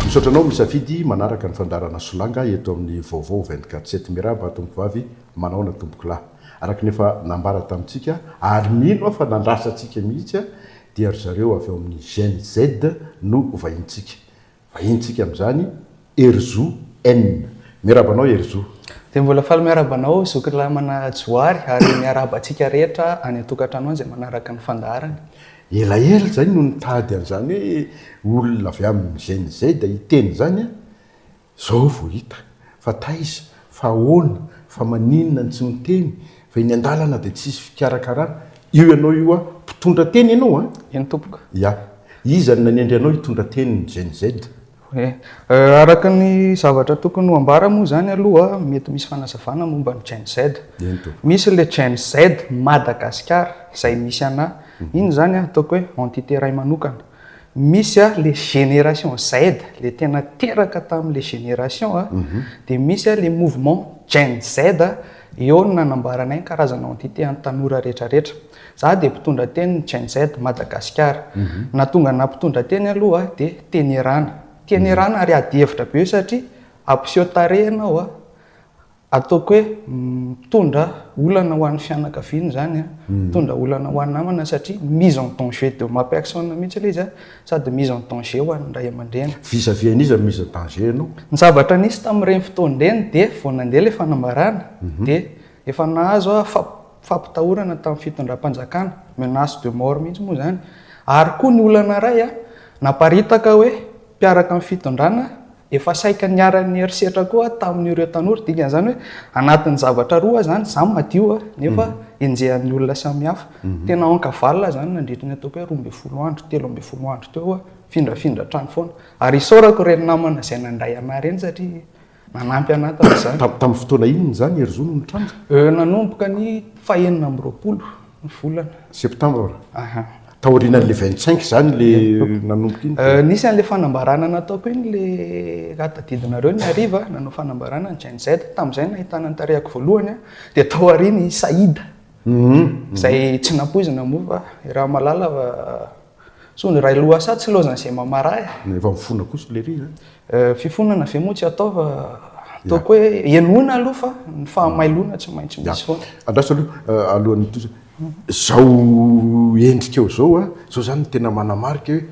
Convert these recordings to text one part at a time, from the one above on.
Misaotra anao misafidy manaraka ny fandaharana Solanga eto amin'ny Vaovao vingt quatre sept. Miarahaba Tompovavy, manaona Tompokolahy. Araka ny efa nambara tamintsika, ary mino aho fa nandrasantsika mihitsy dia ry zareo avy ao amin'ny Gen Z no vahintsika. Vahinintsika amin'izany Herizo N. Miarahaba anao Herizo. Dia mbola faly miarahaba anao Zoky Lamana Johary ary miarahaba antsika rehetra any an-tokantrano any izay manaraka ny fandaharana. Elaela izay no nitady an'izany hoe olona avy amin'ny Gen Z hiteny izany an! Izao vao hita. Fa taiza? Fa ahoana? Fa maninona no tsy miteny? Fa eny andalana dia tsisy fikarakarana. Io ianao io an, mpitondra teny ianao an? Eny tompoko. Ya. Iza no nanendry anao hitondra teny ny GNZ? He. Araka ny zavatra tokony ho ambara moa izany aloha mety misy fanazavana momba ny GNZ. Eny tompoko. Misy ilay GNZ Madagasikara izay misy anà. Inona izany an? Ataoko hoe entité iray manokana. Misy a le génération Z le tena teraka tamin'le génération a, dia misy a le mouvement Gen Z eo no nanambaranay ny karazana entité an'ny tanora rehetra rehetra. Za dia mpitondra tenin'ny Gen Z Madagasikara. Nahatonga anah mpitondra teny aloha dia tenerana. Tenerana ary ady hevitra be satria hampiseho tarehy ianao a, Ataoko hoe mitondra olana ho an'ny fianakaviany izany, mitondra olana ho an'ny namana satria mise en danger de ma personne mihitsy ilay izy sady mise en danger ho an'ny ray aman-dreny. Vis à vis an'iza no mise en danger ianao? Ny zavatra nisy tamin'ireny fotoana ireny dia vao nandeha ilay fanambarana dia efa nahazo fampitahorana tamin'ny fitondram-panjakana, menace de mort mihitsy moa izany. Ary koa ny olana iray, naparitaka hoe mpiaraka amin'ny fitondrana, efa saika niharan'ny herisetra koa tamin'ireo tanora, dikan'izany hoe anatin'ny zavatra roa izany, izaho madio a, nefa enjehan'ny olona samihafa. Tena aonka valona izany nandritra ny ataoko hoe roa ambin'ny folo andro, telo ambin'ny folo andro teo aho, mifindrafindra hatrany foana. Ary isaorako ireny namana izay nandray an'ahy ireny satria, Manampy anà tamin'izany. Tam- Tamin'ny fotoana inona izany Herizo no nitranga? Euh, nanomboka ny fahenina amby roapolo ny volana. Septembre. Aha. Taorianan'ilay 25 izany ilay nanomboka iny. Euh, nisy an'ilay fanambarana nataoko iny le raha tadidinareo ny hariva nanao fanambarana ny Gen Z tamin'izay nahitana ny tarehako voalohany a, dia tao aoriany i Saïd izay tsy nampoizina moa fa i Ramalala So ny railoha sa tsy lozan ze mamara eh. Na efa mifona kosa lery eh. Eh, fifonana ve moa tsy atao fa ataoko hoe henoina aloha fa ny fahamailoana tsy maintsy misy foana. Andraso aloha eh, alohan'ny hitohizana. Zao endrikao zao a, zao zany ny tena manamarika hoe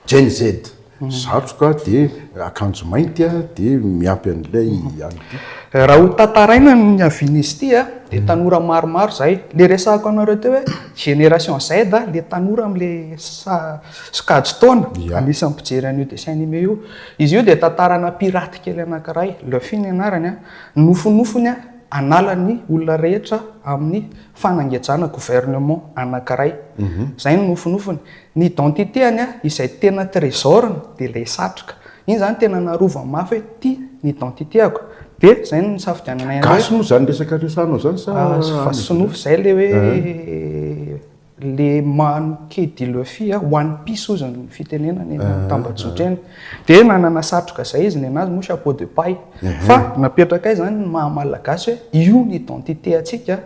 Gen Z. Satroka dia akanjo mainty dia miampy an'ilay alibi. Raha ho tantaraina ny niavian'izy ity dia tanora maromaro izahay, ilay resahako anareo teo hoe génération Z, ilay tanora amin'ilay sokajy taona, anisan'ny mpijery an'io dessin animé io. Izy io dia tantarana pirate kely anankiray, Luffy ny anarany, nofinofiny hanala ny olona rehetra amin'ny fanangejana, gouvernement, anankiray. Izay no nofinofiny. Ny identité-ny izay tena trésor-ny dia ilay satroka. Iny izany tena narovany mafy hoe ity ny identité-ko. Dia izay no nisafidiananay an'ilay. Gasy moa izany resaka resahanao izany sa. Fa sinoa izay ilay hoe le manquer de luffy a, one piece hozy ny fitenenana eny Tambajotra eny. Dia nanana satroka izay izy, ny anazy moa chapeau de paille. Fa napetrakay izany ny maha-malagasy hoe io ny identité-ntsika.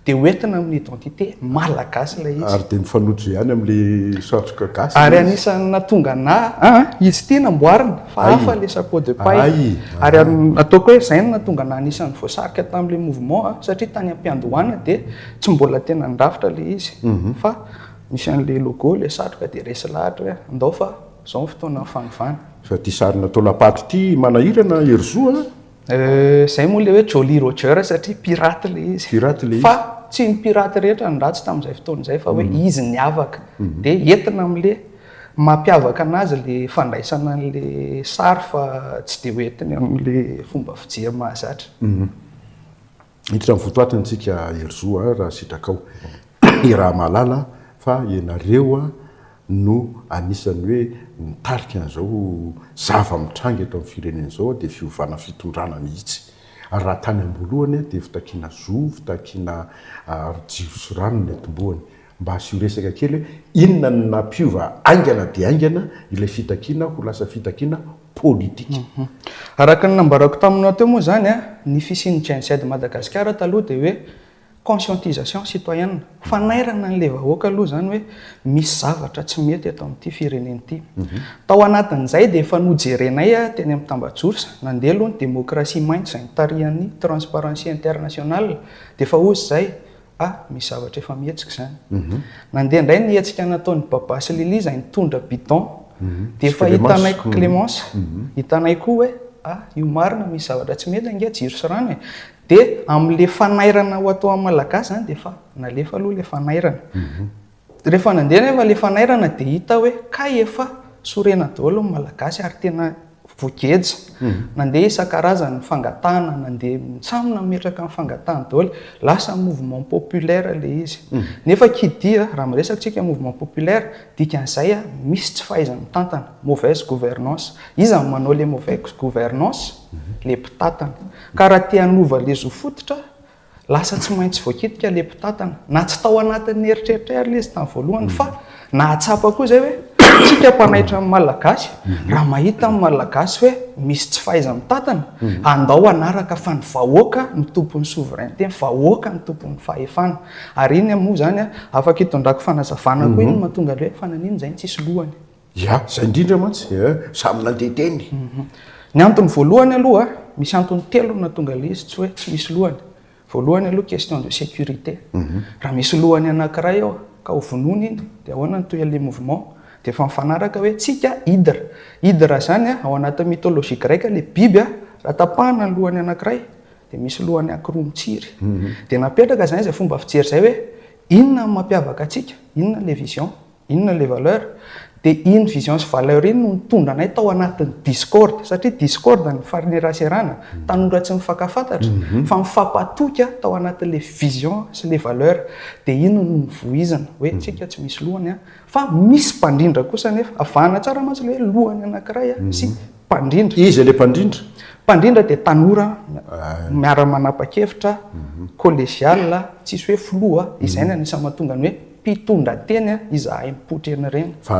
Dia ho entina amin'ny identité malagasy ilay izy. Ary dia mifanojo ihany amin'ilay satroka gasy ilay izy. Ary anisan'ny nahatonga anà, an, izy ity namboarina, fa hafa ilay chapeau de paille. Ary ataoko hoe izay no nahatonga anà anisan'ny voasarika tamin'ilay mouvement an, satria tany am-piandohana dia tsy mbola tena nirafitra ilay izy, fa nisy an'ilay logo ilay satroka dia resy lahatra hoe andao fa izao ny fotoanan'ny fanovana. Fa ity sary natao lapaty ity manahirana Herizo an! Euh, zay moa le hoe Jolly Roger satria pirate le izy. Pirate le izy. Fa tsy ny pirate rehetra ny ratsy tamin'izay fotoana izay fa hoe mm. izy ny avaka. Mm-hmm. Dia entina amin'le mampiavaka anazy le fandraisana an'le sary fa tsy dia ho entiny amin'le fomba fijery mahazatra. Mm-hmm. Hiditra amin'ny votoatiny tsika Herizo a, raha sitrakao. Iaraha mahalala fa ianareo no anisan'ny hoe mitarika an'izao zava-mitranga eto amin'ny firenena izao dia fiovana fitondrana mihitsy. Ary raha tany am-boalohany dia fitakiana zo, fitakiana jiro sy rano no nentim-boany. Mba asio resaka kely hoe inona no nampiova haingana dia haingana ilay fitakiana ho lasa fitakiana politika. Araka ny nambarako taminao teo moa izany, ny fisian'ny Gen Z Madagasikara taloha dia hoe conscientisation citoyenne, fanairana an'ilay vahoaka aloha izany hoe misy zavatra tsy mety eto amin'ity firenena ity. Tao anatin'izay dia efa nojerenay teny amin'ny tambajotra, nandeha aloha ny demokrasia mainty izay nitarihan'ny Transparency International, dia efa hoy izay, Ah, misy zavatra efa mihetsika izany. Mhm. Nandeha indray ny hetsika nataon'i Baba sy Lily izay nitondra bidon. Mhm. Dia efa hitanay mhm. Clémence. Hitanay koa hoe, ah, io marina misy zavatra tsy mety ange jiro sy rano e. Dia amin'ilay fanairana ho atao amin'ny Malagasy izany dia efa nalefa aloha ilay fanairana. Rehefa nandeha nefa ilay fanairana dia hita hoe kay efa sorena daholo ny Malagasy ary tena voageja. Nandeha isan-karazany ny fangatahana, nandeha samy nametraka ny fangatahany daholo. Lasa mouvement populaire ilay izy. Nefa qui dit, raha miresaka isika mouvement populaire, dikan'izay misy tsy fahaiza-mitantana, mauvaise gouvernance. Iza no manao ilay mauvaise gouvernance? Ilay mpitantana. Ka raha te hanova ilay zo fototra, Lasa tsy maintsy voakitika ilay mpitantana. Na tsy tao anatin'ny eritreritr'ay ary ilay izy tamin'ny voalohany fa nahatsapa koa izay hoe isika mpanaitra ny Malagasy, raha mahita ny Malagasy hoe misy tsy fahaiza-mitantana, andao hanaraka fa ny vahoaka no tompon'ny souveraineté, ny vahoaka no tompon'ny fahefana. Ary iny moa izany afaka itondrako fanazavana koa iny no mahatonga an'ilay hoe fa naninona izay no tsisy lohany? Ya, zay indrindra mantsy eh, samy nandeha teny. Mhm. Ny antony voalohany aloha, misy antony telo no nahatonga ilay izy tsy hoe tsy misy lohany. Voalohany aloha question de sécurité. Mhm. Raha misy lohany anankiray eo ka ho vonoina iny dia ahoana ny tohin'ilay mouvement? Dia efa mifanaraka hoe tsika hydre. Hydre izany ao anatin'ny mythologie grecque ilay biby raha tapahana ny lohany anankiray dia misy lohany ankiroa mitsiry. Mhm. Dia napetraka izany izay fomba fijery izay hoe inona no mampiavaka antsika? Inona ilay vision? Inona ilay valeur? Dia iny vision sy valeur iny no nitondra anay tao anatin'ny discorde, satria discorde ny faneraserana, tanora tsy mifankafantatra, fa mifampatoky tao anatin'ilay vision sy ilay valeur. Dia iny no nivoizina hoe tsika tsy misy lohany fa misy mpandrindra kosa anefa. Avahana tsara mantsy ilay hoe lohany anankiray sy mpandrindra. Iza ilay mpandrindra? Mpandrindra dia tanora miara-manapa-kevitra, collegial, tsisy hoe filoha, izay no anisan'ny mahatonga ny hoe. Mpitondra teny a, izahay mipoitra eny reny. Fa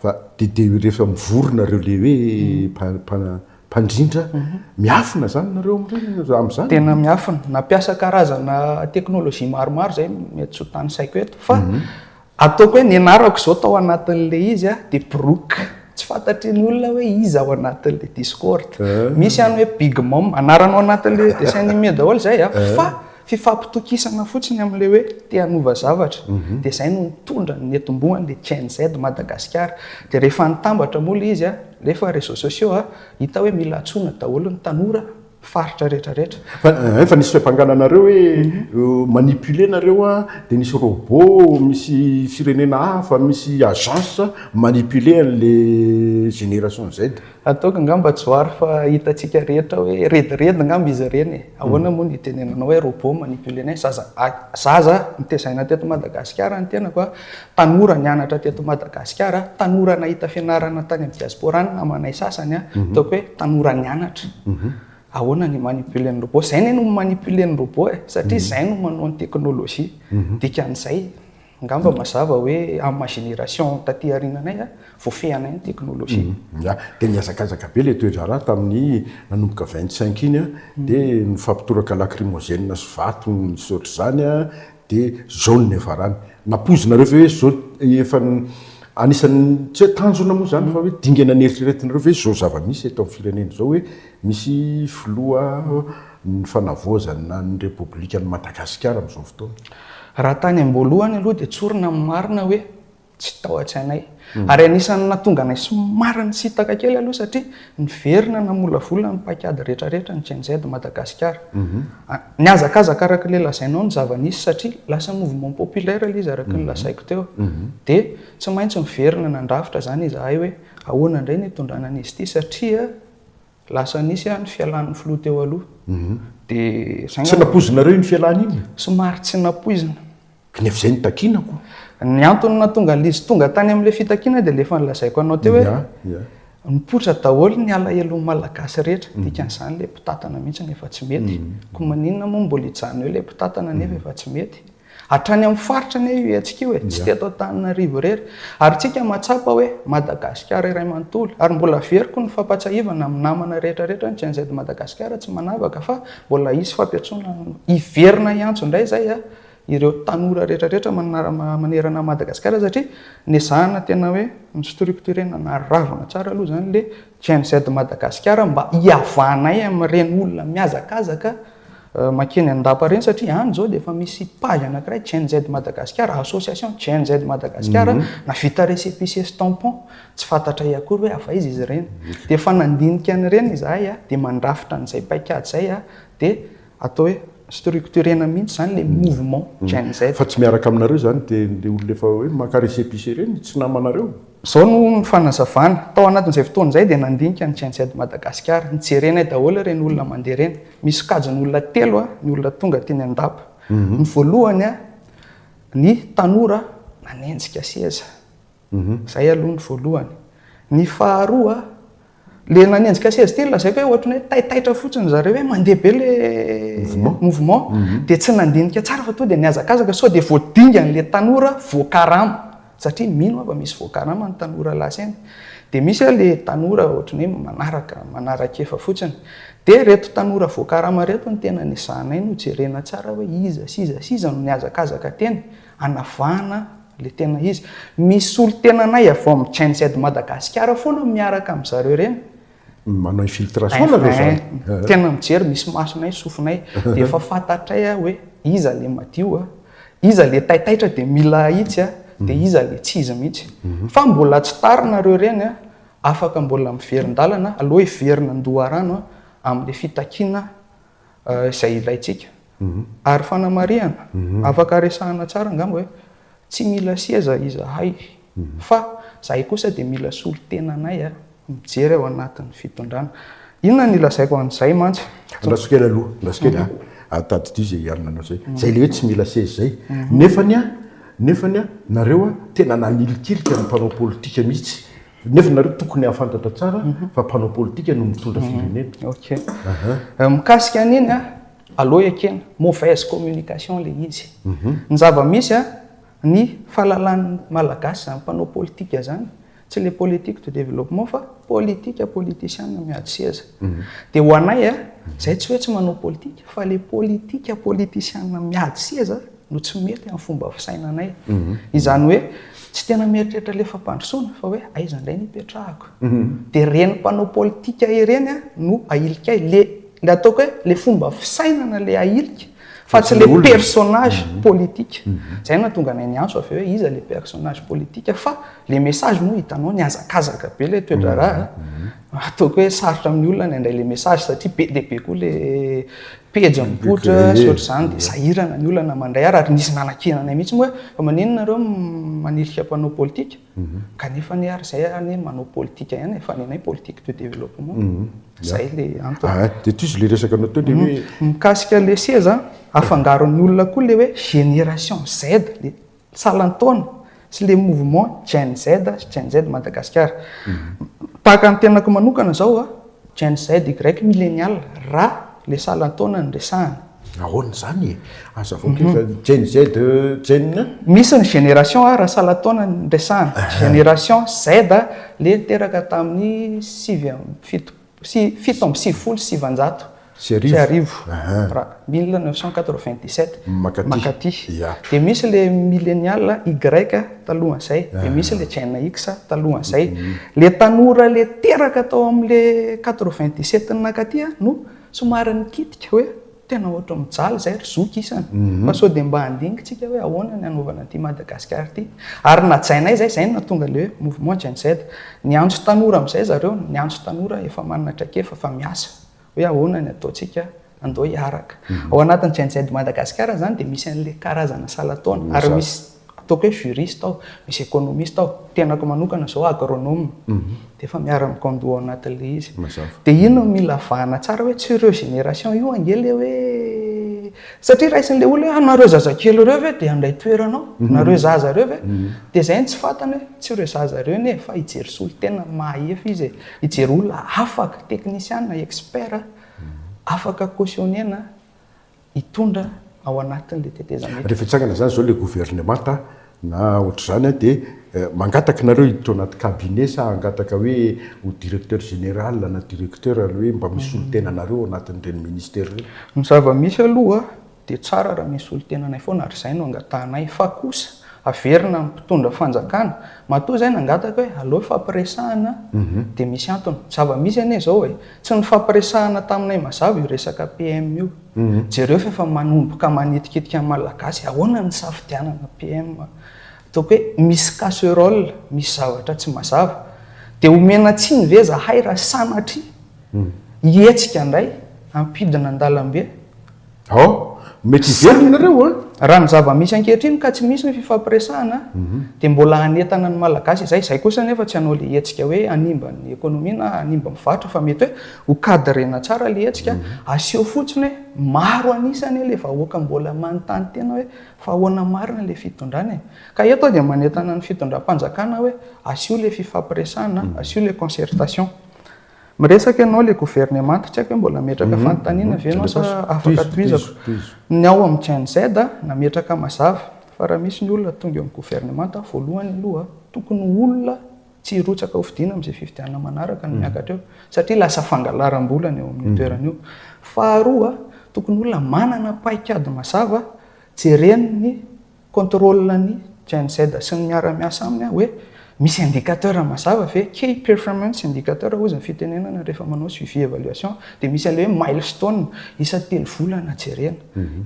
fa de de rehefa mivory nareo le hoe mpa mpandrindra miafina zany nareo amin'ireny amin'izany? Tena miafina, nampiasa karazana teknolojia maromaro zay mety tsy ho tanisaiko eto fa ataoko hoe nianarako izao tao anatin'le izy a de Brook, tsy fantatry ny olona hoe iza ao anatin'le Discord, misy any hoe Big Mom, anarana ao anatin'le dessin animé daholo zay a fa Fifampitokisana fotsiny amin'ilay hoe te hanova zavatra, dia izay no nitondra ny niatombohan'ny le Gen Z Madagasikara. Dia rehefa nitambatra moa ilay izy, alefa réseaux sociaux, hita hoe mila antsoina daholo ny tanora, faritra rehetra rehetra. Fa efa nisy fiampangana anareo hoe manipuler nareo dia nisy robot misy firenena hafa, misy agence manipuler an'ilay génération Z. Ataoko angamba Johary fa hitantsika rehetra hoe rediredy angamba izy ireny e! Ahoana moa no hitenenanao hoe robot manipule anay? Zaza zaza notezaina teto Madagasikara ny tenako a! Tanora nianatra teto Madagasikara, tanora nahita fianarana tany amin'ny diaspora ny namanay sasany a! Ataoko hoe tanora nianatra. Ahoana ny hi-manipuler ny robot? Izay anie no mi-manipuler ny robot e! Satria izay no manao ny teknolojia. Dikan'izay. Angamba mazava hoe amina génération taty aorinanay voafehanay ny technologie. Ya, dia nihazakazaka be ilay toe-draharaha tamin'ny nanomboka 25 iny dia nifampitoraka lacrymogène sy vato nisy otr'izany dia izao no niafarany. Nampoizinareo ve hoe izao efa anisan'ny tsy hoe tanjona moa izany fa hoe dingana neritreretinareo ve izao zava-misy eto amin'ny firenena izao hoe Misy filoha ny fanavaozana ny Repoblikan'i Madagasikara amin'izao fotoana? Raha tany am-boalohany aloha dia tsorina amin'ny marina hoe tsy tao an-tsainay. Ary anisan'ny nahatonga anay somary nisintaka kely aloha satria niverina namolavola ny paikady rehetrarehetra ny Gen-Z Madagasikara. Nihazakazaka araka ilay lazainao ny zava-nisy satria lasa mouvement populaire ilay izy araka ny lazaiko teo. Dia tsy maintsy niverina nandrafitra izany izahay hoe ahoana indray ny hitondrana an'izy ity satria. Lasa nisy ny fialan'ny filoha teo aloha. Mhm. Dia Tsy nampoizinareo iny fialany iny? Somary tsy nampoizina. Nefa izay no takinako. Ny antony nahatonga an'izy tonga tany amin'ilay fitakiana dia ilay efa nolazaiko anao teo hoe mipoitra daholo ny alahelon'ny Malagasy rehetra. Mhm. Dikan'izany ilay mpitantana mihitsy no efa tsy mety. Mhm. Koa maninona moa no mbola hijanona eo ilay mpitantana nefa efa tsy mety? Hatrany amin'ny faritra anie io hetsika io e, tsy teto Antananarivo irery. Ary tsika mahatsapa hoe Madagasikara iray manontolo. Ary mbola averiko ny fampatsiahivana amin'ny namana rehetra rehetra ny GNZ Madagasikara tsy manavaka fa mbola hisy fampiantsoana hiverina hiantso indray izay ireo tanora rehetra rehetra manerana an'i Madagasikara satria nezahana tena hoe ni-structurer-na naharavona tsara aloha izany ilay GNZ Madagasikara mba hihavanay amin'ireny olona mihazakazaka mankeny an-dapa ireny satria any izao dia efa misy page anankiray GNZ Madagasikara, association GNZ Madagasikara navita récépissé sy tampon, tsy fantatray akory hoe avy aiza izy ireny. Dia efa nandinika an'ireny izahay dia mandrafitra an'izay paikady izay dia Atao hoe structurena mihitsy zany le mouvement Gen Z. Fa tsy miaraka aminareo zany de le olona efa hoe maka resepice ireny tsy namanareo? Zao no ny fanazavana, tao anatin'izay fotoana izay dia nandinika ny Gen Z Madagasikara, nijerenay daholo ireny olona mandeha ireny, misy sokajiny olona telo ny olona tonga teny an-dapa, ny voalohany ny tanora nanenjika seza, Izay aloha ny voalohany. Ny faharoa, ilay nanenjika seza ity no lazaiko hoe ohatran'ny hoe taitaitra fotsiny ry zareo hoe mandeha be ilay mouvement, dia tsy nandinika tsara fa tonga dia nihazakazaka sao dia voadingan'ilay tanora voakarama, satria mino aho fa misy voakarama ny tanora lasa eny. Dia misy ary ilay tanora ohatran'ny hoe manaraka, manaran-kefa fotsiny. Dia ireto tanora voakarama ireto no tena nizahanay nojerena tsara hoe iza sy iza sy iza no nihazakazaka teny. Anavahana le tena izy. Misy olo tena anay avy ao am Gen Z Madagasikara foana miaraka am zareo reny. Manao infiltration nareo zany. Tena mijery misy masonay sofinay dia efa fantatray hoe iza le madio a, iza le taitaitra dia mila ahitsy a, dia iza le tsy izy mihitsy. Fa mbola tsy tara nareo reny a, afaka mbola miverin-dalana, aleo hiverina an-doharano am le fitakiana izay ilaintsika. Mhm. Ary fanamarihana, mhm. afaka resahana tsara angamba hoe tsy mila seza izahay, mhm. fa izahay kosa dia mila solontenanay a, mijery ao anatin'ny fitondrana. Inona ny lazaiko an'izay mantsy? Andraso kely aloha, andraso kely a, atadidio izay hiarina anao izay. Izay ilay hoe tsy mila seza izay. Nefany a, nefany a, nareo a, tena nanilikilika ny mpanao politika mihitsy. Nefa nareo tokony hahafantatra tsara fa mpanao politika no mitondra firenena. Ok. Mikasika an'iny a, aleo ekena, mauvaise communication le izy. Ny zava-misy a, ny fahalalan'ny Malagasy izany mpanao politika izany, tsy le politique de développement fa politika politisiana miady seza. Dia ho anay a, izay tsy hoe tsy manao politika fa le politika politisiana miady seza no tsy mety amin'ny fomba fisainanay. Mhm. Izany hoe tsy tena mieritreritra ilay fampandrosoana fa hoe aiza indray ny hipetrahako. Mhm. Dia ireny mpanao politika ireny a no ahilikay. Le le ataoko hoe le fomba fisainana le ahilika fa tsy le personnage mhm. politika. Zay no nahatonga anay niantso avy eo hoe iza le personnage politika fa le message moa hitanao nihazakazaka be le toedraharaha. Ataoko hoe sarotra amin'ny olona ny handray le message satria be dia be koa le pejy mipoitra sy ohatr'izany dia sahirana ny olona mandray ahy ary nisy nanakiana anay mihitsy moa hoe fa maninona nareo manilika mpanao politika mhm. kanefa anie ary izay anie manao politika ihany fa nenay politique de développement mhm. zay le antony ah, dia tis le resaka anao teo le mhm. hoe mikasika le seza afangaron'ny olona koa le hoe génération Z le salan-taona sy le mouvement Gen Z sy Gen Z Madagascar. Tahaka ny tenako manokana zao a, Gen Z y millennial ra le salan-taona no resahana. Ahoana zany e? Azavao kely fa Gen Z Gen. Misy ny génération a ra salan-taona no resahana. Génération Z le teraka tamin'ny sivy amby fitop-, sy fito amby sivifolo sy sivanjato sy arivo, ra, mille neuf cent quatre-vingt-dix-sept, mankaty. Dia misy ilay millenial Y talohan'izay, dia misy ilay Gen X talohan'izay. Ilay tanora ilay teraka tao amin'ilay quatre-vingt-dix-sept nankaty no somary nikitika hoe. Tena ohatry ny mijaly izay ry zoky isany fa sao dia mba handinika isika hoe ahoana ny hanaovana an'ity Madagascar ity. Ary najainay izay, izay no nahatonga ilay hoe Mouvement Gen-Z. Niantso tanora amin'izay zareo, niantso tanora efa manana traikefa fa miasa hoe ahoana ny ataontsika andao hiaraka. Ao anatin'ny Gen-Z Madagascar izany dia misy an'ilay karazana salan-taona ary misy. Ataoko hoe juriste aho, misy économiste aho, tenako manokana izao agronome, dia efa miara-mikando ao anatin' ilay izy. Dia iny no mila vahana tsara hoe tsy ireo génération io ange ilay hoe, satria raisin'ilay olona hoe anareo zazakely ireo ve dia handray toerana ao? Nareo zaza ireo ve? Dia izay no tsy fantany hoe tsy ireo zaza ireo anie e, fa hijery solontenany ny maha-efa izy e, hijery olona afaka, teknisiana, expert, afaka cautionner-na, hitondra ao anatin'ilay tetezamita. Rehefa hitsangana izany izao ilay governemanta na ohatr'izany dia mangataka nareo hiditra ao anaty cabinet sa hangataka hoe ho directeur général na directeur aloha hoe mba misolo tena anareo ao anatin'ireny ministère ireny? Ny zava-misy aloha dia tsara raha misolo tena anay foana ary izay no angatahanay fa kosa averina amin'ny mpitondra fanjakana matoa izay nangataka hoe aleo ifampiresahana dia misy antony. Ny zava-misy anie izao e! Tsy nifampiresahana taminay mazava io resaka PM io. Jereo fa efa manomboka manitikitika ny Malagasy, ahoana ny hisafidianana PM? Ataoko hoe misy casserole, misy zavatra tsy mazava. Dia omena tsiny ve izahay raha sanatria hihetsika indray hampidina an-dalambe? Hao, mety hiverina ianareo an! Raha ny zava-misy ankehitriny ka tsy misy ny fifampiresahana dia mbola hanentana ny Malagasy izay. Izay kosa anefa tsy hanao ilay hetsika hoe hanimba ny économie na hanimba ny varotra fa mety hoe ho cadrena tsara ilay hetsika. Aseho fotsiny hoe maro an'isa anie ilay vahoaka mbola manontany tena hoe fa ahoana marina ilay fitondrana e! Ka eto aho dia manentana ny fitondram-panjakana hoe asio ilay fifampiresahana, asio ilay concertation. Miresaka ianao ilay governemanta, tsy haiko hoe mbola hametraka fanontaniana ve ianao sa afaka tohizako. Ny ao amin'ny Gen Z, nametraka mazava fa raha misy ny olona tonga eo amin'ny governemanta, voalohany aloha, tokony ho olona tsy hirotsaka hofidiana amin'izay fifidianana manaraka no miakatra eo, satria lasa fangalaram-bola ny eo amin'io toerana io. Faharoa, tokony olona manana paikady mazava jereny ny Contrôle-n'ny Gen Z sy ny miara-miasa aminy aho hoe misy indicateur mazava ve, key performance indicator hozy ny fitenenana rehefa manao suivi evaluation dia misy an'ilay hoe milestone, isa telo volana jerena,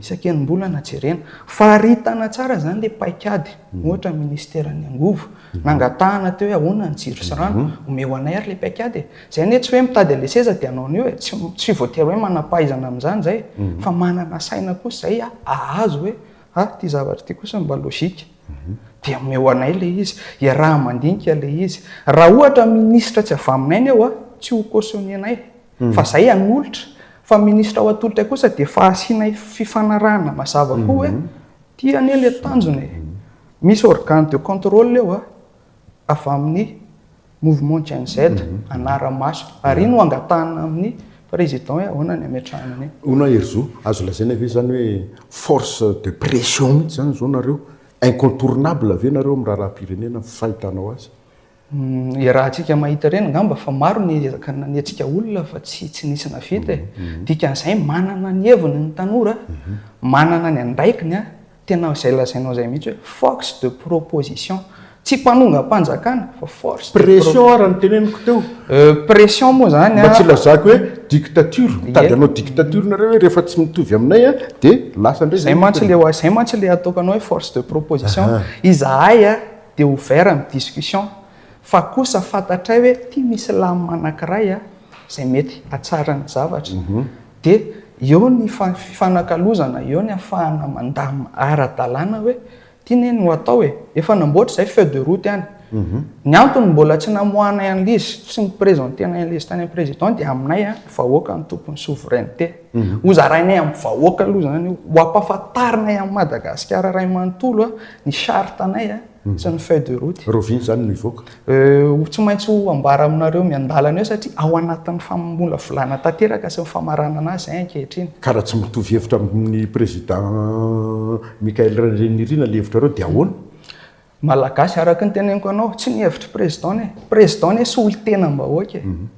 isaky enim-bolana jerena. Faritana tsara izany ilay paikady, ohatra ny ministeran'ny angovo, nangatahana teo hoe ahoana ny jiro sy rano, omeo anay ary ilay paikady e! Izay anie tsy hoe mitady an'ilay seza dia hanao an'io e! Tsy voatery hoe manam-pahaizana amin'izany izay fa manana saina kosa izay hahazo hoe Ha, ity zavatra ity kosa mba lojika, dia omeo anay ilay izy, iaraha-mandinika ilay izy. Raha ohatra minisitra tsy avy aminay ny eo an, tsy ho cautionner-nay, fa izay hanolotra. Fa minisitra ho atolotra kosa dia efa asianay fifanarahana mazava koa hoe, ity anie ilay tanjona e. Misy organe de contrôle eo an, avy amin'ny. Mouvement Gen Z, anara-maso. Ary iny no angatahana amin'ny Président hoe ahoana ny hametrahana an'iny. Hono aho Herizo, azo lazaina ve izany hoe force de pression mihitsy izany izao nareo? Incontournable ve nareo amin'ny raharaham-pirenena amin'ny fahitanao azy? Iarahantsika mahita ireny angamba fa maro ny ezaka nanetsika olona fa tsy tsy nisy navita e. Dikan'izay manana ny heviny ny tanora, manana ny andraikiny Tena izay lazainao izay mihitsy hoe force de proposition. Tsy mpanongam-panjakana fa force de proposition. Pression ary ny teneniko teo. Pression moa izany an. Mba tsy hilazako hoe dictature. Mitady hanao dictature nareo hoe rehefa tsy mitovy aminay an dia lasa indray izay. Izay mantsy ilay hoe, izay mantsy ilay ataoko anao hoe force de proposition. Izahay an dia ouvert amin'ny discussion fa kosa fantatray hoe ity misy lamina anankiray an izay mety hatsara ny zavatra. Dia eo ny fifanakalozana, eo ny hafahana mandamina ara-dalàna hoe ity ne no atao e! Efa namboatra izay feuille de route any. Ny antony mbola tsy namoahanay an'ilay izy, tsy ni-presentenay an'ilay izy tany amin'ny Président dia aminay an, ny vahoaka no tompon'ny souveraineté. Hozarainay amin'ny vahoaka aloha izany io, ho ampahafantarinay an'i Madagasikara iray manontolo ny charte-nay. Tsy ny feuille de route. Roviny izany no hivoaka. Ho tsy maintsy ho ambara aminareo miandalana eo satria ao anatin'ny famolavolana tanteraka sy ny famaranana azy izay ankehitriny. Ka raha tsy mitovy hevitra amin'ny Président Michaël Rainirina ilay hevitrareo dia ahoana? Malagasy, araka ny teneniko anao, tsy ny hevitr'i Président ny ahy. Président ny ahy solontenam-bahoaka e.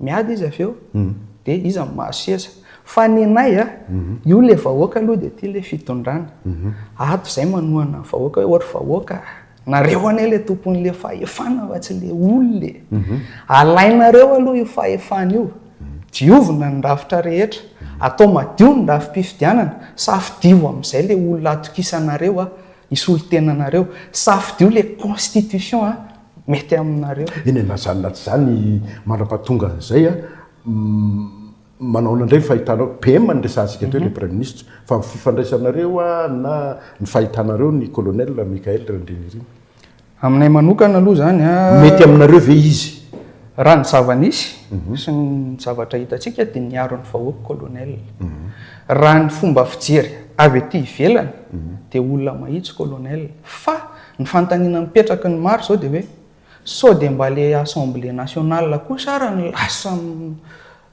Miady izy avy eo dia iza no mahazo seza. Fa ny anay a, io ilay vahoaka aloha dia ity ilay fitondrana. Ato izay manohana ny vahoaka hoe o ry vahoaka a, nareo anie ilay tompon'ilay fahefana fa tsy ilay olona e. Alainareo aloha io fahefana io, diovina ny rafitra rehetra, atao madio ny rafi-pifidianana, safidio amin'izay ilay olona atokisanareo hisolo tena anareo, safidio ilay constitution a. mety aminareo. Eny e, na izany na tsy izany, mandrapahatonga an'izay, manahoana indray ny fahitanao, PM no niresahantsika teo ilay Praiminisitra, fa ny fifandraisanareo na ny fahitanareo ny Colonel Michaël Randrianirina? Aminay manokana aloha izany, mety aminareo ve izy? Raha ny zava-nisy sy ny zavatra hitantsika dia niaro ny vahoaka Colonel. Raha ny fomba fijery avy ety ivelany dia olona mahitsy Colonel fa Ny fanontaniana mipetraky ny maro izao dia hoe sao dia mba ilay Assemblée nationale kosa ary no lasa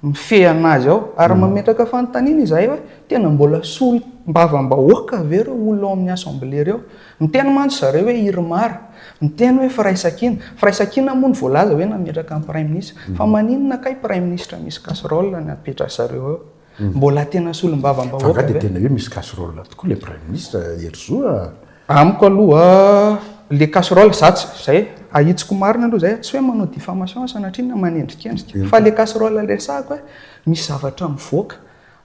mifehy an'azy ao? Ary mametraka fanontaniana izahay hoe tena mbola solombavambahoaka ve ireo olona ao amin'ny Assemblée ireo? Miteny mantsy zareo hoe Irmar, miteny hoe Firaisankina. Firaisankina moa no voalaza hoe nametraka ny Praiminisitra. Fa maninona kay Praiminisitra misy casserole no apetra zareo eo? Mbola tena solombavambahoaka ve? Fa nga dia tena hoe misy casserole tokoa ilay Praiminisitra Hery Zo a? Amiko aloha le casserole za tsy zay ahitsiko marina aloha zay tsy hoe manao diffamation sanatria na manendrikendrika fa le casserole resahako hoe misy zavatra mivoaka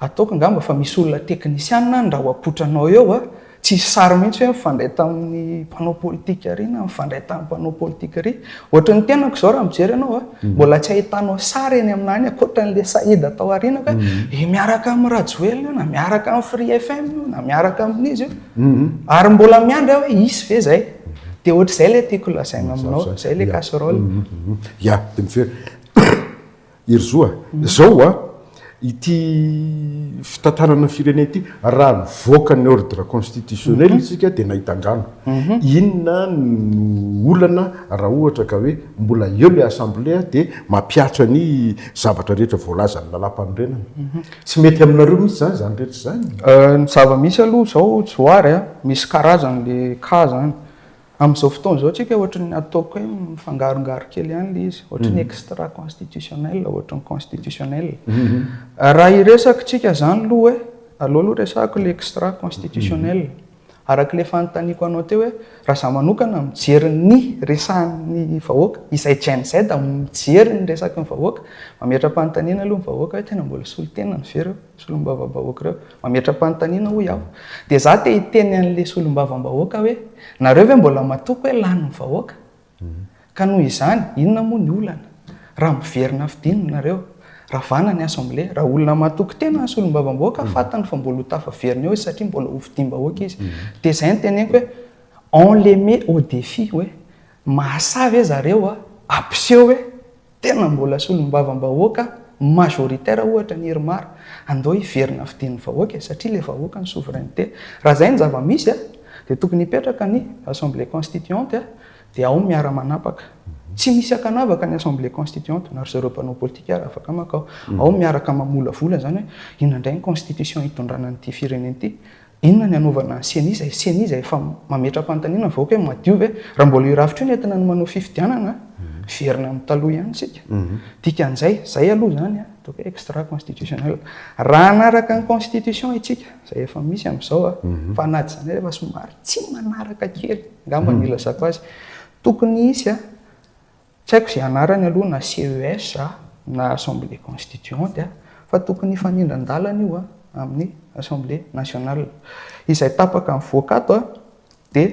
ataoko angamba fa misy olona teknisianina any raha ho apotranao eo a! Tsisy sary mihitsy hoe mifandray tamin'ny mpanao politika ery na mifandray tamin'ny mpanao politika ery. Ohatry ny tenako izao raha mijery anao a, hmm. mbola tsy ahitanao sary eny aminà any ankoatra an'ilay Saïd tao aoriana hoe hmm. eh, miaraka amin'ny Rajoelina na miaraka amin'ny Free FM na miaraka amin'izy io. Hmm. Ary mbola miandry hoe hisy ve izay? Dia ohatr'izay ilay tiako lazaina aminao, izay ilay casserole. Ya, dia mijery. Herizoa, izao ho'a, ity fitantanana ny firenena ity, raha nivoaka ny ordre constitutionnel isika dia nahita angano. Inona no olana raha ohatra ka hoe mbola eo ilay assemblée dia mampiatra ny zavatra rehetra voalazan'ny lalàmpanorenana? Tsy mety aminareo mihitsy izany, izany rehetra izany? Ny zava-misy aloha izao Johary a, misy karazany ilay cas izany. Amin'izao fotoana izao tsika ohatran'ny ataoko hoe mifangarongaro kely ihany ilay izy, ohatran'ny extra constitutionnel, ohatran'ny constitutionnel. Raha hiresaka tsika izany aloha hoe, aleo aloha resahako ilay extra constitutionnel. Araka ilay efa notaniako anao teo hoe, raha izaho manokana mijery ny resahan'ny vahoaka, izay Gen Z mijery ny resaky ny vahoaka, mametra-panontaniana aloha ny vahoaka hoe tena mbola solon-tenany ve ireo? Solombavambahoaka ireo. Mametra-panontaniana hoy aho. Dia za te hiteny an'ilay solombavambahoaka hoe, nareo ve mbola matoky hoe lany ny vahoaka? Ka noho izany, inona moa ny olana? Raha miverina fidiny nareo. Ravana ny assemblée. Raha olona matoky tena ny solombavambahoaka, fantany fa mbola ho tafaverina eo izy satria mbola ho fidiam-bahoaka izy. Dia izay no teneniko hoe, on les met au défi hoe, mahasahy ve zareo hampiseho hoe, Tena mbola solombavambahoaka majoritaire ohatra ny Irmar, andao hiverina fidin'ny vahoaka e, satria ilay vahoaka no souveraineté. Raha izay no zava-misy a, dia tokony hipetraka ny assemblée constituante a, dia ao ny miara-manapaka. Tsy misy ankanavaka ny assemblée constituante, na ry zareo mpanao politika ary afaka makao. Ao miaraka mamolavola izany hoe inona indray ny constitution hitondrana an'ity firenena ity. Inona ny hanaovana ny ceni izay ceni izay efa mametra-panontaniana ny vahoaka hoe madio ve? Raha mbola io rafitra io no entina ny manao fifidianana, miverina amin'ny taloha ihany isika. Dikan'izay, izay aloha izany ataoko hoe extra constitutionnel. Raha hanaraka ny constitution isika, izay efa misy amin'izao, fa na tsy izany aza efa somary tsy manaraka kely, angamba no ilazako azy, tokony hisy Tsy haiko izay anarany aloha na CES na Assemblée Constituante fa tokony hifanindran-dalana io amin'ny Assemblée Nationale. Izay tapaka mivoaka ato dia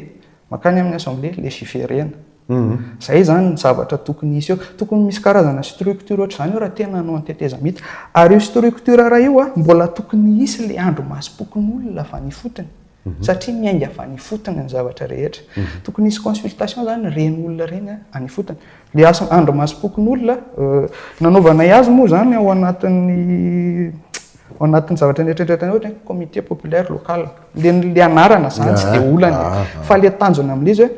mankany amin'ny Assemblée Légiférena. Izay izany ny zavatra tokony hisy eo. Tokony misy karazana structure ohatr'izany eo raha tena hanao ny tetezamita. Ary io structure iray io mbola tokony hisy ilay andrimasom-pokonolona avy any ifotony. Satria miainga avy any ifotony ny zavatra rehetra. Tokony hisy consultation izany ireny olona ireny any ifotony. Ilay asa andro masom-pokonolona, nanaovanay azy moa izany ao anatin'ny ao anatin'ny zavatra nieritreritanay ohatra hoe comité populaire local. Ilay ilay anarana izany tsy dia olana e. Fa ilay tanjona amin'ilay izy hoe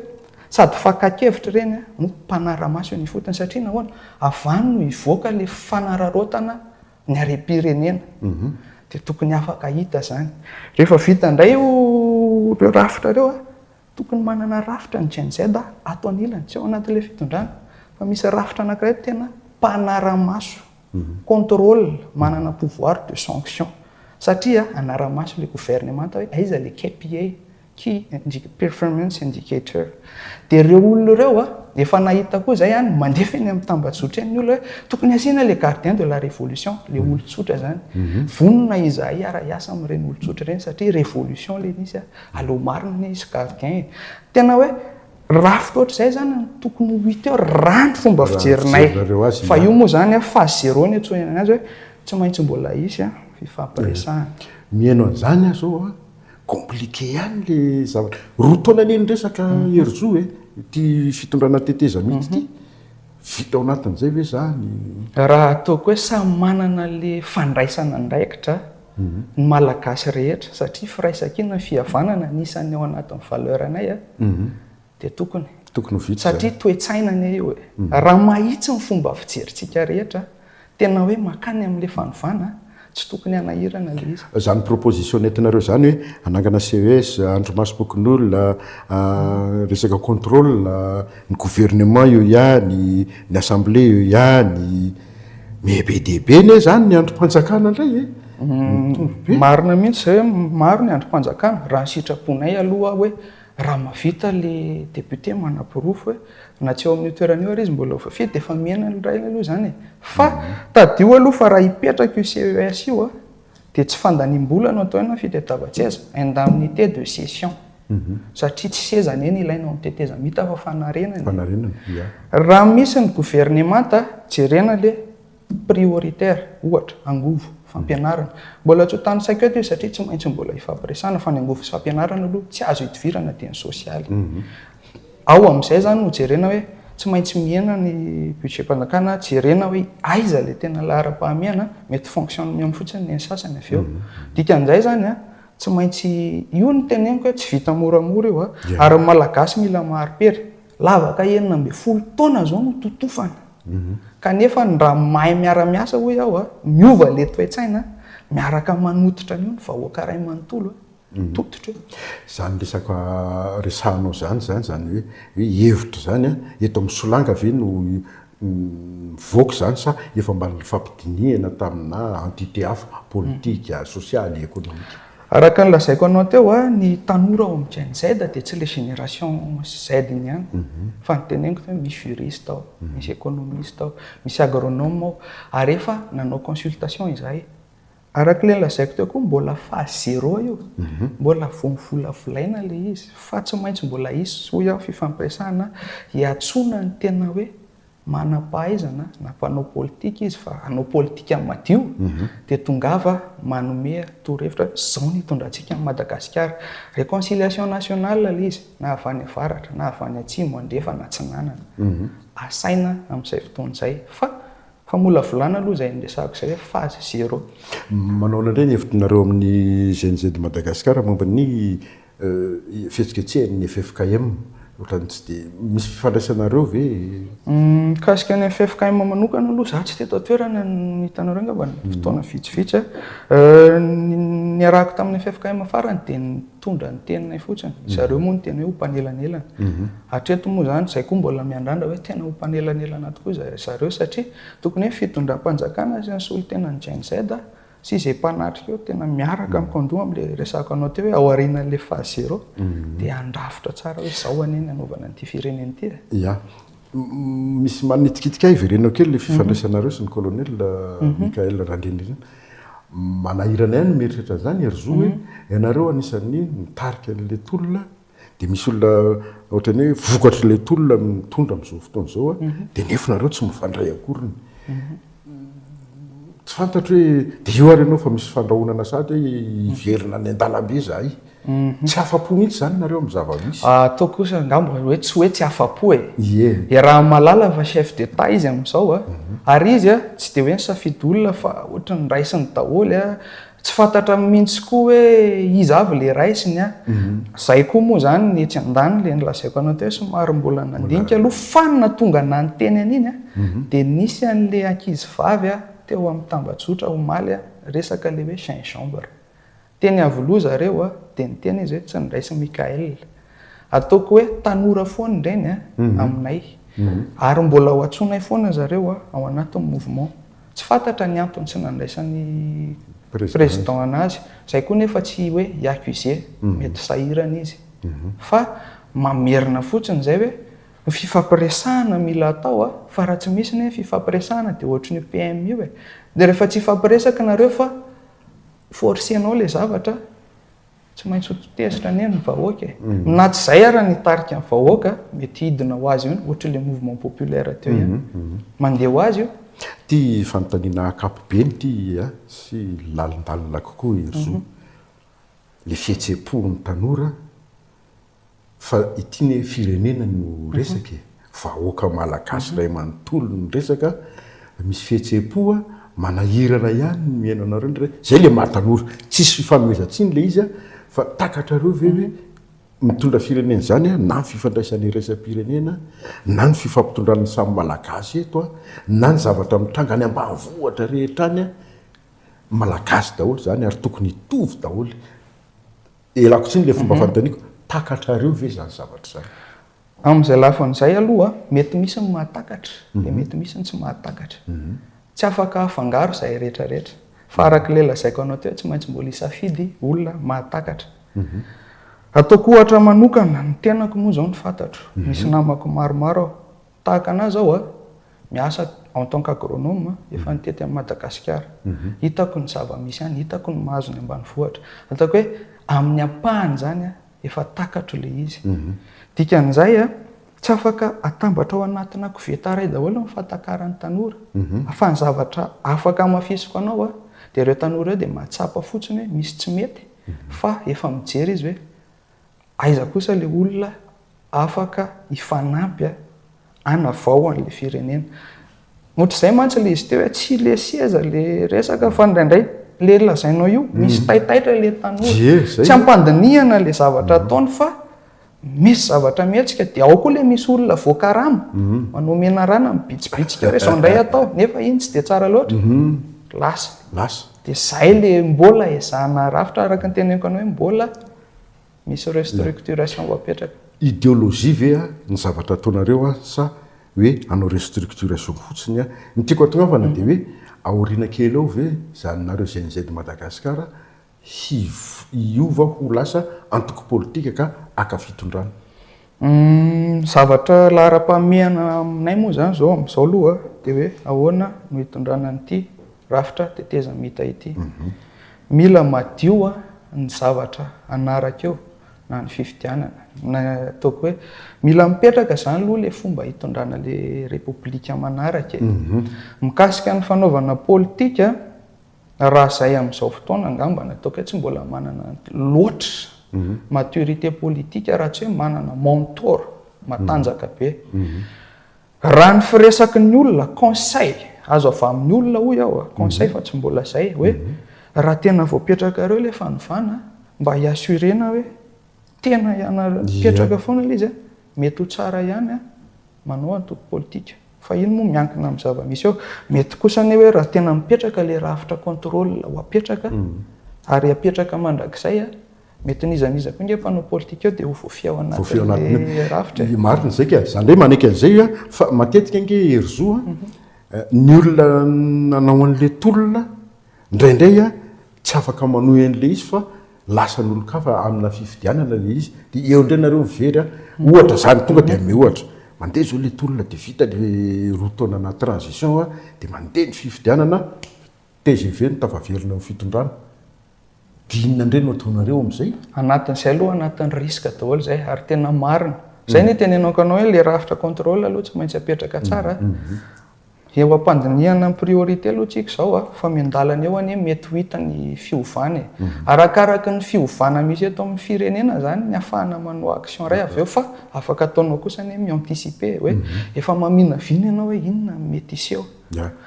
sady fakan-kevitra ireny no mpanara-maso eny ifotony. Satria nahoana? Avy any no hivoaka ilay fanararaotana ny harem-pirenena dia tokony afaka hita izany. Rehefa vita indray ireo rafitra ireo, tokony manana rafitra ny Gen-Z ato anilany, tsy ao anatin'ilay fitondrana, fa misy rafitra anankiray tena mpanara-maso, contrôle, manana pouvoir de sanction, satria hanara-maso ilay governemanta hoe aiza ilay KPA, Key indicator, performance indicator, dia ireo olona ireo efa nahita koa izay any mandefa eny amin'ny tambajotra eny ny olona hoe tokony asiana ilay gardien de la révolution, ilay olon-tsotra izany. Vonona izahay hiara-hiasa amin'ireny olon-tsotra ireny satria révolution ilay izy, aleo marina ny hisy gardien e. Tena hoe rafitra ohatr'izay izany no tokony ho hita eo raha ny fomba fijerinay. Fa io moa izany phase zéro no iantsoana an'azy hoe tsy maintsy mbola hisy fifampiresahana. Miheno an'izany aho izao a! Compliqué ihany le zavatra. Roa taona anie ny resaka Hery Joe e, ity fitondrana tetezamita ity. Vita ao anatin'izay ve izany? Raha ataoko hoe samy manana le fandraisana andraikitra ny Malagasy rehetra satria firaisankina ny fihavanana anisan'ny ao anatin'ny valeur-nay a. dia tokony tokony ho vita satria toe-tsaina anie io e mhm. raha mahitsy ny fomba fijerintsika rehetra tena hoe makany amin'ilay fanovana tsy tokony hanahirana le izy zany proposition entinareo zany hoe anangana ces andro masopokin'olona ah, resaka contrôle ny gouvernement io ihany ny assemblée io ihany mais be dia be ne zany ny androm-panjakana indray e mhm. marina mihitsy zay hoe maro ny androm-panjakana raha ny sitraponay aloha hoe Raha mahavita ilay député manaporofo hoe na tsy eo amin'io toerana io ary izy mbola ho voafidy dia efa mihena ny rainy aloha izany e. Fa tadidio aloha fa raha hipetraka io CES io a, dia tsy fandaniam-bola no atao eo na fitadiavan-tseza, indemnité de session. Satria tsy seza anie no ilaina ao amin'ny tetezamita fa fanarenana e. Raha misy ny governemanta, jerena ilay prioritaire, ohatra, angovo, fampianarana. Mbola tsy ho tany saiko eto io satria tsy maintsy mbola hifampiresahana fa ny angovo sy fampianarana aloha tsy azo idivirana dia ny sosialy. Ao amin'izay izany no jerena hoe tsy maintsy mihena ny budget-mpanjakana, jerena hoe aiza ilay tena laharam-pahamehana, mety fonctionnement fotsiny ny an'ny sasany avy eo. Dikan'izay izany, tsy maintsy, io no teneniko hoe tsy vita moramora io, ary ny malagasy mila mahari-pery. Lavaka enina ambin'ny folo taona izao no totofana, kanefa ny raha mahay miara-miasa hoy aho, miova ilay toe-tsaina, miaraka manototra an'io ny vahoaka iray manontolo, tototra io. Izany resaka resahanao izany, izany izany hoe hevitra izany, eto amin'ny solanga ve no mivoaka izany sa efa mba nifampidinihana taminà entité hafa, politika, sosialy, ekonomika? Araka ny lazaiko anao teo, ny tanora ao amin'ny Gen-Z dia tsy ilay génération Z iny ihany. Fa ny teneniko teo, misy juriste ao, misy économiste ao, misy agronome ao. Ary efa nanao consultation izahay. Araka ilay lazaiko teo koa mbola phase zero io. Mbola vao mivolavolaina ilay izy. Fa tsy maintsy mbola hisy hoy aho fifampiresahana hiantsoana ny tena hoe manam-pahaizana na mpanao politika izy fa hanao politika madio dia tongava manome torohevitra izao no hitondrantsika an'i Madagasikara. Réconciliation nationale ilay izy na avy any avaratra na avy any atsimo, andrefana, atsinanana. Asaina amin'izay fotoana izay fa Famolavolana aloha izay niresahako izay hoe phase zero. Manaona indray ny hevitrnareo amin'ny GNZ Madagascar momba ny fihetsiketsehan'ny ffkm? Ohatran'ny tsy dia misy fifandraisanareo ve? Mikasika ny ffkm manokana aloha izaho tsy teto an-toerana no nahita anareo angamba fotoana vitsivitsy. Ny niarahako tamin'ny ffkm farany dia ny Mitondra ny teninay fotsiny. Zareo moa no tena hoe ho mpanelanelana. Hatreto moa izany, izay koa mbola miandrandra hoe tena ho mpanelanelana tokoa zareo satria tokony hoe fitondram-panjakana sy ny solontenan'ny Gen-Z sy izay mpanatrika eo tena miaraka mikandoha amin'ilay resahako anao teo hoe ao aorianan'ilay phase zéro dia handrafitra tsara hoe izao anie ny hanaovana an'ity firenena ity e. Ia. Misy manitikitika ahy, verenao kely ilay fifandraisanareo sy ny colonel Michael Randrianirina. Manahirana ahy ny mieritreritra an'izany ry zo hoe ianareo anisan'ny mitarika an'ilay tolona dia misy olona ohatran'ny hoe vokatr'ilay tolona mitondra amin'izao fotoana izao dia nefa nareo tsy mifandray akoriny. Tsy fantatro hoe dia io ary ianao fa misy fandrahonana sahady hoe hiverina any an-dalambe izahay. Tsy afa-po mihitsy izany nareo amin'ny zava-misy. Ataoko kosa angamba hoe tsy hoe tsy afa-po e. Ie. Iarahan'i Malala fa chef d'Etat izy amin'izao a. Ary izy a, tsy dia hoe nisafidy olona fa ohatran'ny raisiny daholo a. Tsy fantatra mihintsy koa hoe iza avy le raisiny a! Zay koa moa zany ny etsy andaniny le nolazaiko anao teo somary mbola nandinika aloha fa ny nahatonga nanonteny an'iny a de nisy an'le ankizy vavy a teo amin'ny tambajotra omaly a resaka le hoe gingembre. Teny Iavoloha zareo a de niteny izy hoe tsy niraisin'i Mickaël. Ataoko hoe tanora foana indreny aminay ary mbola ho antsoinay foana zareo ao anatin'ny mouvement. Tsy fantatra ny antony tsy nandraisan'ny président anazy, izay koa nefa tsy hoe hi-accuser, mety sahirana izy. Fa mamerina fotsiny izay hoe ny fifampiresahana mila atao fa raha tsy misy ny fifampiresahana dia ohatry io PM io e. Dia rehefa tsy hifampiresaka nareo fa forcer-nao ilay zavatra, Tsy maintsy ho tezitra anie ny vahoaka e. Na tsy izay ary ny tarika ny vahoaka mety hidina ho azy eo ny ohatry ilay mouvement populaire teo ihany. Mandeha ho azy io. Ity fanontaniana akapobe ny ity a, sy lalindalina kokoa Herizo. Ilay fihetseham-pon'ny tanora. Fa ity anie firenena no resaka e! Vahoaka malagasy iray manontolo no resaka, misy fihetsem-po a, manahirana ihany ny mihaino anareo ndray, zay le maha tanora, tsisy fifanomezan-tsiny le izy a, fa takatrareo ve hoe mitondra firenena izany a, na ny fifandraisan'ny iraisam-pirenena, na ny fifampitondran'ny samy malagasy eto a, na ny zavatra mitranga any ambanivohitra rehetra any a, malagasy daholo izany ary tokony hitovy daholo Elako tsiny ilay fomba fanontaniako, takatrareo ve izany zavatra izany? Amin'izay lafiny izay aloha, mety misy ny mahatakatra, dia mety misy ny tsy mahatakatra. Tsy afaka afangaro izay rehetra rehetra. Fa araka ilay lazaiko anao teo, tsy maintsy mbola hisafidy olona mahatakatra. Ataoko ohatra manokana, ny tenako moa izao no fantatro. Misy namako maromaro aho. Tahaka anah zao a, miasa en tant qu'agronome, efa nitety an'i Madagasikara. Hitako ny zava-misy any, hitako ny mahazo ny ambanivohitra. Ataoko hoe amin'ny ampahany zany a, efa takatro le izy. Dikan'izay a, tsy afaka atambatra ao anatina koveta iray daholo ny fatakaran'ny tanora. Fa ny zavatra afaka hamafisiko anao a, dia ireo tanora ireo dia mahatsapa fotsiny hoe misy tsy mety, fa efa mijery izy hoe Aiza kosa ilay olona afaka hifanampy hanavao an'ilay firenena? Ohatr'izay mantsy ilay izy teo hoe tsy ilay seza ilay resaka fa indraindray ilay lazainao io, misy mm. taitaitra ilay tanora. Tsy hampandinihana ilay zavatra mm. ataony fa misy zavatra mihetsika dia ao koa ilay misy olona voakarama mm. manao menarana mibitsibitsika hoe izao indray atao nefa iny tsy dia tsara loatra. Lasa. Lasa. Dia izay ilay mbola ezahina rafitra araka ny teneniko anao hoe mbola misy restructuration voapetraka. Ideologie ve ny zavatra ataonareo sa hoe hanao restructuration fotsiny? Ny tiako hatonavana dia hoe aoriana kely eo ve hijanonareo GNZ Madagascar hiova ho lasa antoko politika ka haka fitondrana? Ny zavatra laharam-pahamehana aminay moa izany izao amin'izao aloha dia hoe ahoana no hitondrana an'ity rafitra tetezamita ity. Mila madio ny zavatra hanaraka eo na ny fifidianana na ataoko hoe mila mipetraka izany aloha ilay fomba hitondrana ilay repoblika manaraka e. Mikasika ny fanaovana politika. Raha izay amin'izao fotoana angamba no ataoko hoe tsy mbola manana loatra maturité politique raha tsy hoe manana mentor matanjaka be. Raha ny firesaky ny olona, conseil azo avy amin'ny olona hoy aho, conseil fa tsy mbola izay, hoe raha tena voapetrakareo ilay fanovana mba hi-assurer-na hoe tena ianareo, mipetraka foana ilay izy a. Mety ho tsara ihany an, manao antoko politika, fa iny moa miankina amin'ny zava-misy eo. Mety kosa anie hoe raha tena mipetraka ilay rafitra contrôle ho apetraka ary hapetraka mandrakizay, mety n'iza n'iza koa ange mpanao politika eo dia ho voafehy ao anatin'ilay rafitra e. Marina izay ka, izany indray manaiky an'izay io an, fa matetika ange Herizo an, ny olona nanao an'ilay tolona Indraindray aho tsy afaka manohy an'ilay izy fa lasan'olon-kafa amina fifidianana ilay izy, dia eo indray nareo mivery an! ohatra izany, tonga dia hanome ohatra, mandeha izao ilay tolona dia vita ilay roa taona anaty transition an! dia mandeha ny fifidianana, tgv no tafaverina amin'ny fitondrana, dia inona indray no ataonareo amin'izay? Anatin'izay aloha anatin'ny risque daholo izay ary tena marina, izay no itenenako anao hoe ilay rafitra contrôle aloha tsy maintsy apetraka tsara, Eo ampandinihana ny priorité aloha tsika izao a, fa miandalana eo anie mety ho hita ny fiovana e. Arakaraka ny fiovana misy eto amin'ny firenena izany ny ahafahana manao action iray avy eo fa afaka ataonao kosa anie mi-anticiper hoe efa maminavina ianao hoe inona no mety hiseho.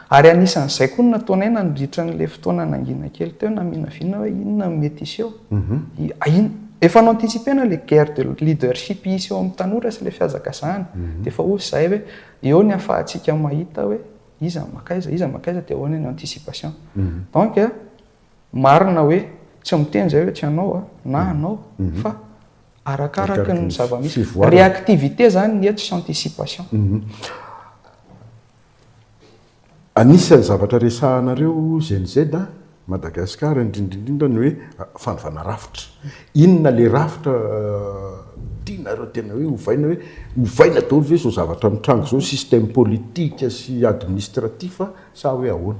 Ary anisan'izay koa ny nataonay nandritra an'ilay fotoana nangina kely teo, naminavina hoe inona no mety hiseho. Efa no-anticiper-na ilay guerre de leadership hisy eo amin'ny tanora sy ilay fihazakazahana. Dia efa hoy izahay hoe Eo ny afahantsika mahita hoe iza no maka aiza, iza no maka aiza dia ahoana ny anticipation. Donc marina hoe tsy miteny izay hoe tsy anao na anao fa arakaraky ny zava-misy. Réactivité izany ny eto sy anticipation. Anisan'ny zavatra resahanareo GNZ Madagascar indrindra indrindra ny hoe fanovana rafitra. Inona ilay rafitra tianareo tena hoe ovaina hoe ovaina daholo ve izao zavatra mitranga izao, système politique sy administratif sa hoe ahoana?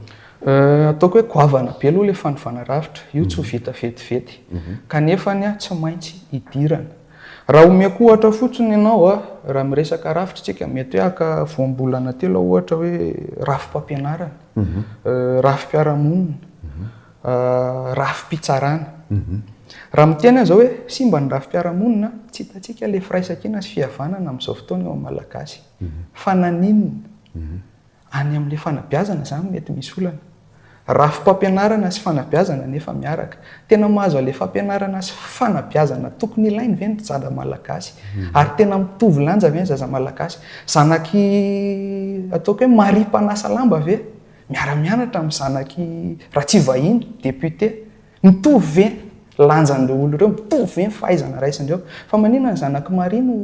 Ataoko hoe goavana be aloha ilay fanovana rafitra. Io tsy ho vita vetivety. Kanefany tsy maintsy hidirana. Raha omeko ohatra fotsiny ianao a, raha miresaka rafitra isika, mety hoe haka voambolana telo aho ohatra hoe rafi-pampianarana, rafi-piarahamonina, rafi-pitsarana. Raha miteny aho izao hoe simba ny rafi-piarahamonina, tsy hitantsika ilay firaisankina sy fihavanana amin'izao fotoana eo amin'ny Malagasy. Fa naninona? Any amin'ilay fanabeazana izany no mety misy olana. Rafi-pampianarana sy fanabeazana anefa miaraka. Tena mahazo an'ilay fampianarana sy fanabeazana tokony ilainy ve ny zaza malagasy? Ary tena mitovy lanja ve ny zaza malagasy? Zanak'i, ataoko hoe Maria mpanasa lamba ve miara-mianatra amin'ny zanak'i Ratsivahiny, député? Mitovy ve lanjan'ireo olona ireo? Mitovy ve ny fahaizana raisiny ireo? Fa maninona ny zanak'i Maria no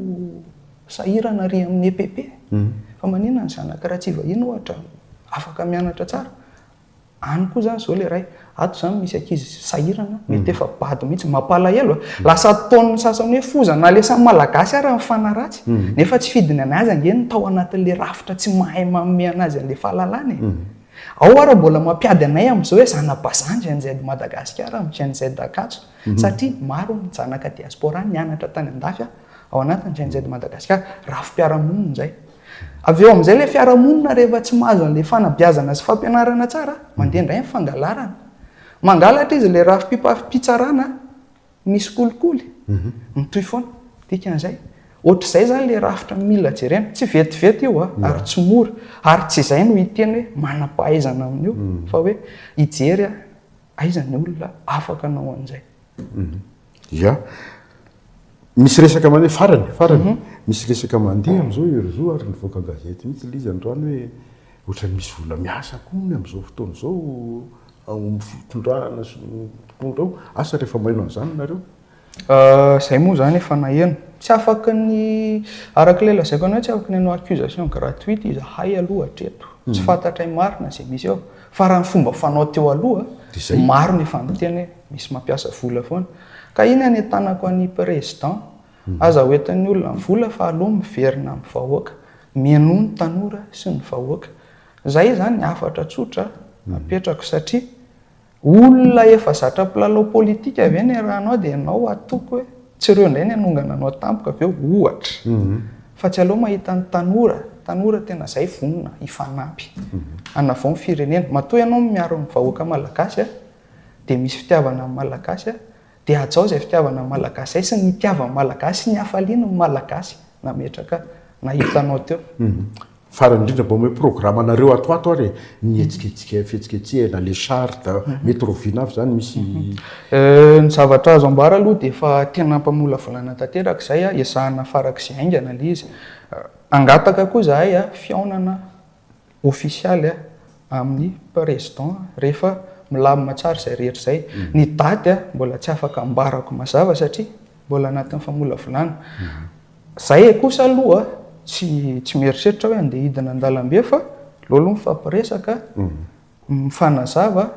sahirana ary amin'ny EPP? Fa maninona ny zanak'i Ratsivahiny ohatra afaka mianatra tsara? Any koa izany izao ilay iray, ato izany misy ankizy sahirana, mety efa bado mihitsy. Mampalahelo a! Lasa ataon'ny sasany hoe foza, na ilay samy Malagasy ary mifanaratsy, nefa tsy fidiny an'azy ange ny tao anatin'ilay rafitra tsy mahay manome an'azy an'ilay fahalalana e! Ao ara mbola mampiady anay amzao hoe zanabazan Gen Z Madagasikara am Gen Z Ankatso satria maro ny zanaka diaspora nianatra tany andafy a ao anatin Gen Z Madagasikara, rafi-piarahamonina izay. Avy eo amzay ilay fiarahamonina rehefa tsy mahazo anle fanabeazana sy fampianarana tsara, mandeha indray ny fangalarana. Mangalatra izy ilay rafi-pipitsarana Misy kolikoly? Mitohy foana. Dikan'izay, ohatr'izay izany ilay rafitra mila jerena. Tsy vetivety io ary tsy mora. Ary tsy izay no hiteny hoe manam-pahaizana amin'io fa hoe hijery aho aiza ny olona afaka hanao an'izay. Ia. Misy resaka mandeha, farany, farany. Misy resaka mandeha amin'izao ery zo ary nivoaka gazety mihitsy ilay izy androany hoe ohatran'ny misy olona miasa koa hono amin'izao fotoana izao ao amin'ny fitondrana sy ny mpitondra ao, asa rehefa maheno an'izany nareo? Izay moa izany efa naheno. Tsy afaka ny, araka ilay lazaiko anao, tsy afaka ny hanao accusation gratuite izahay aloha hatreto. Tsy fantatray marina izay misy ao. Fa raha ny fomba fanao teo aloha, maro ny efa niteny hoe misy mampiasa vola foana. Ka iny anetanako an'i Président, aza ho entin'ny olona ny vola fa aleo miverina amin'ny vahoaka, mihainoa ny tanora sy ny vahoaka. Izay izany hafatra tsotra apetrako satria olona efa zatra mpilalao politika ve ny eranao dia ianao atoko hoe tsy ireo indray ny hanongana anao tampoka ve ohatra fa tsy aleo mahita ny tanora tanora tena izay vonona hifanampy hanavao ny firenena matoa ianao miaro ny vahoaka malagasy dia misy fitiavana ny malagasy Dia hajao izay fitiavana ny Malagasy izay sy ny itiavan'ny Malagasy sy ny hafaliany ny Malagasy nametraka nahitanao teo. Farany indrindra mba omeo programa anareo ato ato ary e, ny hetsiketsika fihetsiketsehana, les chartes, mety roviana avy izany misy. Ny zavatra azo ambara aloha dia efa tena mpamolavolana tanteraka izay, ezahina farak'izay haingana ilay izy. Hangataka koa izahay fihaonana ofisialy amin'ny Président rehefa milamina tsara izay rehetra izay. Ny daty mbola tsy afaka ambarako mazava satria mbola anatin'ny famolavolana. Izay kosa aloha tsy tsy mieritreritra aho hoe andeha hidina an-dalambe fa aleo aloha mifampiresaka, mifanazava.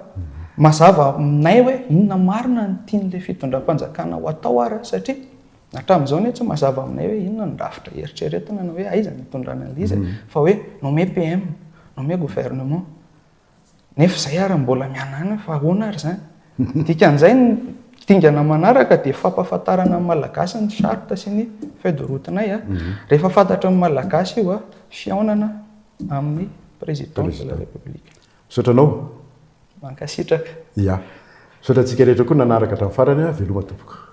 Mazava aminay hoe inona marina no tian'ilay fitondram-panjakana ho atao ary satria. Hatramin'izao anie tsy mazava aminay hoe inona no rafitra eritreretina na hoe aiza no itondrana an'ilay izy e. Fa hoe nommé PM, nommé gouvernement. Nefa izay ary mbola mianana fa ahoana ary izany? Ny dikan'izay ny dingana manaraka dia fampahafantarana ny Malagasy ny charte sy ny feuille de route-nay. Rehefa fantatry ny Malagasy io, fihaonana amin'ny Président de la République. Misaotra anao. Mankasitraka. Ya. Misaotra antsika rehetra koa nanaraka hatramin'ny farany a. Veloma tompoko.